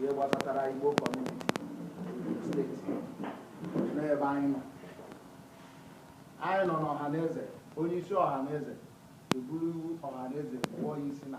ihe gbasatara Igbo community state n'ebe anyị nọ anyị nọ n'Ọhaneze onye isi Ọhaneze eburu iwu Ọhaneze pụọ ya isi na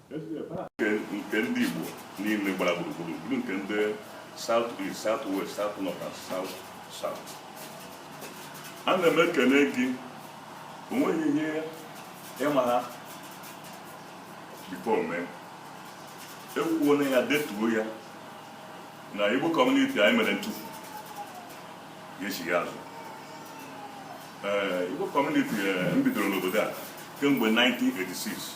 nke ndị Igbo niile gbara gburugburu bụrụ nke ndị South East, South West, South North and South South ana m ekene gị o nweghị ihe ịma ha because mee ekwuo na ya detuo ya na Igbo community anyị mere ntufu ga-echigha azụ ee Igbo community m bidoro n'obodo a kemgbe 1986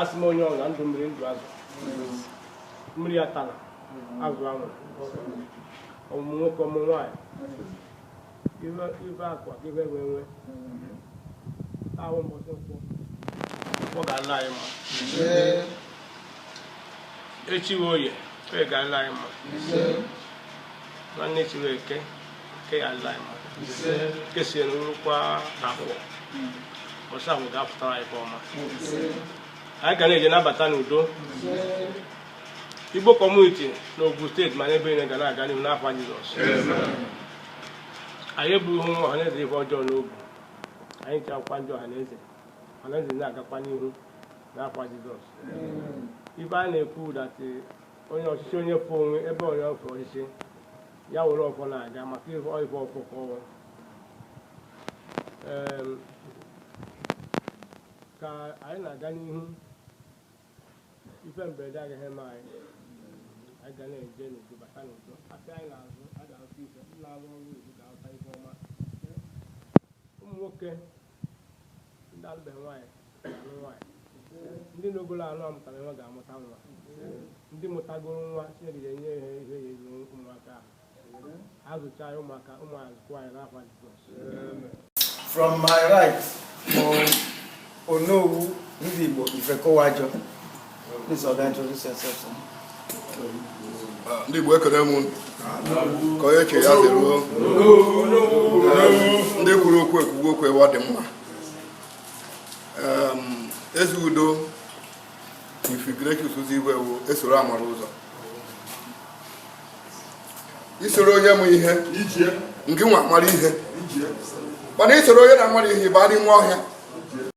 asị m onye ọla ndụ mmiri ndụ azụ mmiri atala azụ anwụla ọmụmụ nwoke ọmụmụ nwaanyị ibe akwa ibe enwe enwe ahụ mbọsị nkwọ ọ ga-ala anyị mma echi oye ọ ga-ala anyị mma nwanne echi eke nke ya ala anyị mma nke si na rukwa afọ ọzọ ọ ga-apụtara anyị ọma anyị ga na-eje na-abata n'udo Igbo community na Ogun State ma n'ebe niile ga na-aga n'ihu n'afa Jizọs anyị ebughị ụmụ ọhaneze ife ọjọọ n'obu anyị ji akwụkwọ ndị ọhaneze ọhaneze na-agakwa n'ihu n'afa Jizọs ife a na-ekwu that onye ọchịchị onye fụ onwe ebe onye ọfọ ọchịchị ya were ọfọ na-aga maka ịhụ ife ọfọ ka ọnwa Em, ka anyị na-aga n'ihu ife mberede agaghị eme anyị anyị ga na-eje n'udo bata n'udo afịa anyị na-azụ a ga-azụ ife ndị na-arụ ọrụ oyibo ga-arụta ife ọma ụmụ nwoke ndị alụbeghị nwaanyị ga-alụ nwaanyị ndị nụgolo na-amụtarọ nwa ga-amụta nwa ndị mụtagoro nwa Chineke ga-enye ha ihe eji azụ ụmụaka ahụ ha zụcha ya ụmụaka azụkwa anyị n'afa Jizọs From my right bụ Onowu Ndigbo Ifekowajo. ndị Igbo ekele m nke onye chi ya zeruo ndị kwuru okwu ekwugo okwu ụwa dị mma Ezeudo Chief Ignatius Uzoigwe e soro amara ụzọ i soro onye ma ihe gịnwa amara ihe mana i soro onye na-amarọ ihe ị baa n'ime ọhịa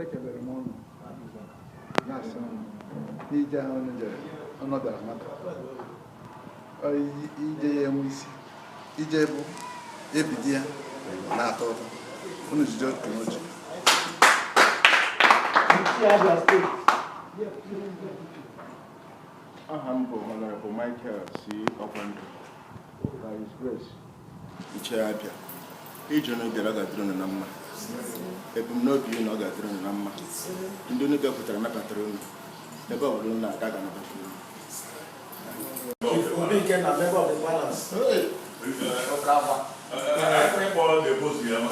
ekelere m ụnụ na-asị m n'ije ahụ ụnụ jere ụnụ bịara maka Ọ i- ije ya enwe isi ije bụ ebidi ya ọ na-atọ ụtọ ụnụ jide otu n'oche aha m bụ honorable Michael C. Ọkwandụ by his grace Ichie Abịa ije unu bịara ga-adịrị unu na mma ebumnobi unu ọ ga-adịrị unu na mma ndị unu bịakwutere nabatara unu ebe ọ bụla unu na-aga ga-anabata unu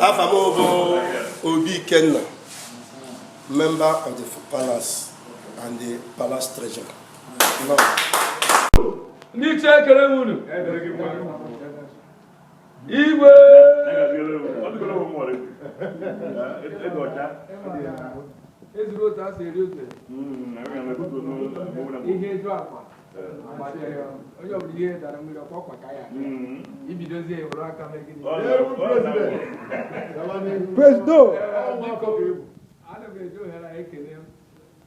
Afa m bụ Obi Ikenna, member of the Palace and the Palace Treasurer. ndị ichie ekele m unu igwe ezuru otu a si eri otu ihe eju akwa onye ọbụla ihe dara mmiri ọkwa ọkwa ka ya ibidozie ewere aka megide Presido! ana m eji ohere a ekele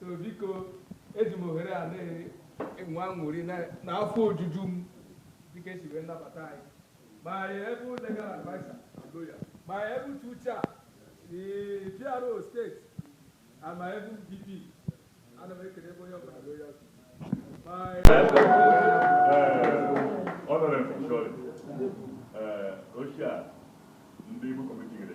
so biko eji m ohere a na-enwe aṅụrị na afọ ojuju m dịka esi wee nabata anyị my able legal adviser my able uche uche a si PRO state ama ebe DP ana m ekele ebe onye ọbụla lawyer ọnọrọ mfọshọrị ochie a ndị Igbo committee gere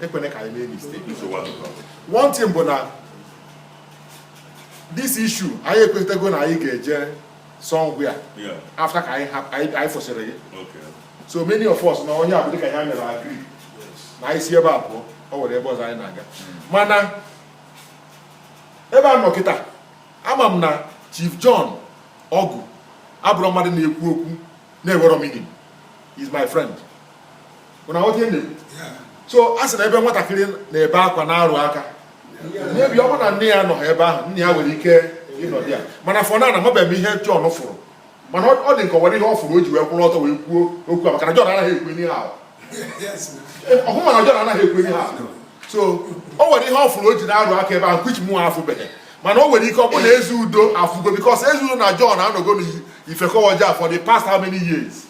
ekwene ka anyị mee mistake one thing bụ na this issue anyị ekwetego na anyị ga-eje somewhere after ka anyị fụsịrị gị so many of us nọ ebe a bụ dịka anyị mere agree na anyị si ebe a pụọ ọ nwere ebe ọzọ anyị na-aga hmm. mana ebe a nọ kịta ama m na Chief John Ọgụ abụrọ mmadụ na-ekwu okwu na-enwerọ meaning he's my friend so a sị na ebe nwatakịrị na-ebe akwa na-arụ aka maybe ọ bụ na nne ya nọ ebe ahụ nna ya nwere ike ịnọdụ ya mana for now amabeghị m ihe John fụrụ mana ọ dị m ka o nwere ihe ọ fụrụ o ji wee kwụrụ ọtọ wee kwuo okwu a maka na John anaghị ekwu ihe ahụ ọhụ mana John anaghị ekwu ihe ahụ so o nwere ihe ọ fụrụ o ji na-arụ aka ebe ahụ which mụnwa afụbeghị mana o nwere ike ọ bụ na eze udo afụgo because eze udo na John anọgo n'ifekọwaji for the past how many years